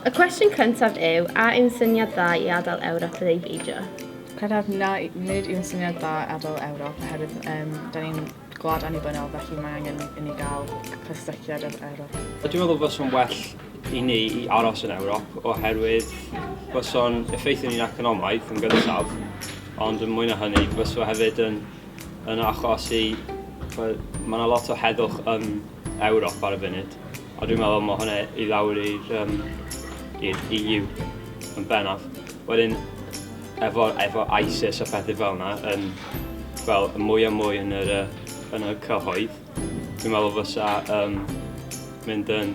Y cwestiwn cyntaf yw, a yw'n syniad dda i adael Ewrop yn ei beidio? Credaf na, nid yw'n syniad dda adael Ewrop, oherwydd um, da ni'n gwlad annibynnol, felly mae angen i ni gael cysylltiad â'r Ewrop. Dwi'n meddwl bod o'n well i ni i aros yn Ewrop oherwydd byso'n effeithio ni'n economaidd yn gyntaf, ond yn mwy na hynny, byso hefyd yn yn achosi bod... mae 'na lot o heddwch yn Ewrop ar y funud, a dwi'n meddwl mae hwnna i lawr i'r um, i'r EU yn bennaf. Wedyn, efo, efo ISIS a phethau fel yna, yn, fel, mwy a mwy yn yr, uh, yn y cyhoedd, dwi'n meddwl fysa um, mynd yn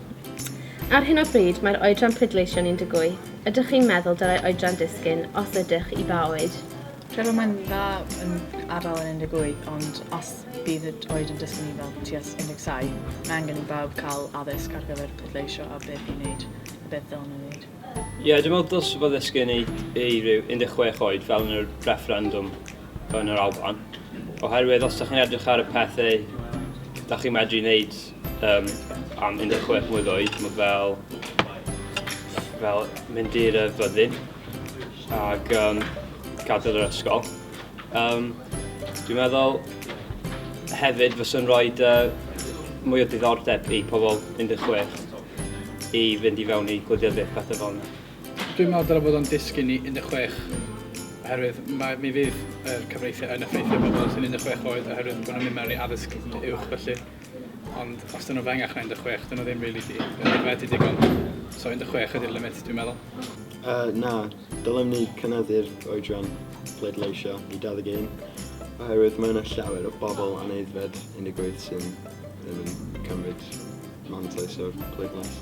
Ar hyn o bryd mae'r oedran pleidleisio yn 18. Ydych chi'n meddwl dylai oedran disgyn, os ydych, i ba oed? Credo mae'n dda yn adael yn 18, ond os bydd y oed yn disgyn i fel tuas 17, mae angen i bawb cael addysg ar gyfer pleidleisio a beth i wneud a beth ddylen nhw wneud. Ie, dwi'n meddwl dylse fo ddisgyn i i ryw 16 oed fel yn y refferendwm yn yr Alban, oherwydd os dych chi'n edrych ar y pethau dych chi'n medru wneud Um, am 16 mlynedd oed, mae fel, fel mynd i'r fyddin ac um, gadael yr ysgol. Um, dwi'n meddwl hefyd fyswn rhoi uh, mwy o diddordeb i pobl 16 i fynd i fewn i gwleidyddiaeth pethau fel yna. Dwi'n meddwl dylai bod o'n dysgu ni 16 oherwydd mae, mi fydd yr cyfreithiau yn effeithio pobl sy'n 16 oed oherwydd bod nhw'n mynd mewn i addysg uwch felly. Ond os dyn nhw'n fengach na 16, dyn nhw ddim rili really di. Dyn nhw'n digon. So 16 ydy'r limit dwi'n meddwl. Uh, na, dylem ni cynyddu'r oedran pleidleisio i 21, oherwydd mae yna llawer o bobl aneidfed 18 sy'n ddim yn cymryd mantais o'r pleidlais.